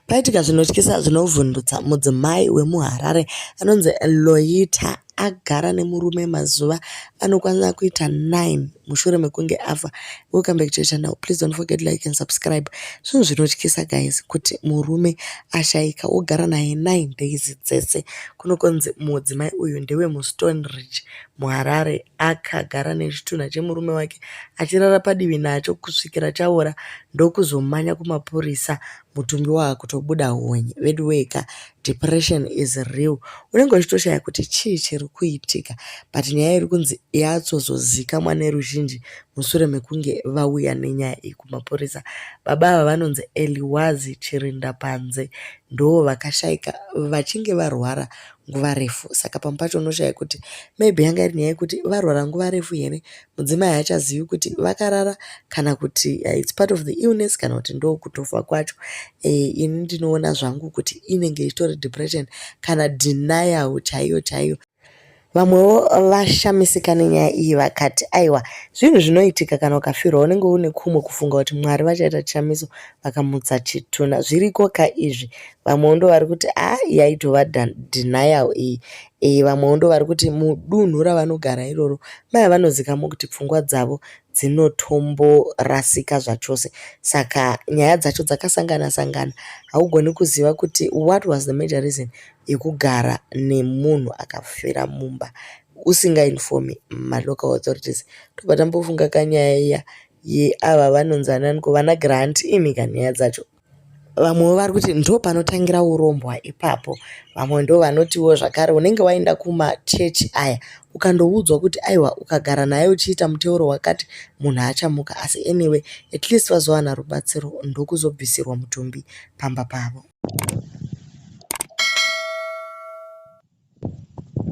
Paitika zvinotyisa zvinovhundutsa mudzimai wemuHarare anonzi Loyitta agara nemurume mazuva anokwanira kuita 9 mushure mekunge afa. Welcome back to your channel. Please don't forget like and subscribe. Zvinhu zvinotyisa guys kuti murume ashaika wogara naye 9 days dzese. Kunokonzi mudzimai uyu ndewe muStone Ridge muHarare akagara nechitunha chemurume wake achirara padivi nacho kusvikira chaora ndokuzomanya kumapurisa mutumbi waakutobuda honye veduweeka depression is real unenge uchitoshaya kuti chii chiri kuitika but nyaya iri kunzi yatsozozikamwa neruzhinji mushure mekunge vauya nenyaya iyi kumapurisa baba ava vanonzi eliwazi chirinda panze ndoo vakashaika vachinge varwara nguva refu saka pamwe pacho unoshaya kuti maybe yanga iri nyaya yekuti varwara nguva refu here mudzimai haachazivi kuti vakarara kana kuti uh, its part of the illness kana kuti ndo kutofa kwacho eh, ini ndinoona zvangu kuti inenge ichitori depression kana denial chaiyo chaiyo vamwewo vashamisika nenyaya iyi vakati aiwa zvinhu zvinoitika kana ukafirwa unenge une kumwe kufunga kuti mwari vachaita chishamiso vakamutsa chituna zviriko ka izvi vamwewo ndo vari kuti a ah, yaitova denial iyi e, vamwewo ndo vari kuti mudunhu ravanogara iroro maya vanozikamwa kuti pfungwa dzavo dzinotomborasika zvachose saka nyaya dzacho dzakasangana sangana haugoni kuziva kuti what was the major reason yekugara nemunhu akafira mumba usingainfomi malocal authorities tobva tambofunga kanyaya iya yeava vanonzi ananiko vana grant imika nyaya dzacho Vamwewo vari kuti ndopanotangira urombwa ipapo. Vamwe ndovanotiwo zvakare unenge waenda kumachechi aya ukandoudzwa kuti aiwa ukagara naye uchiita muteuro wakati munhu achamuka asi anyway at least vazowana rubatsiro ndokuzobvisirwa mutumbi pamba pavo.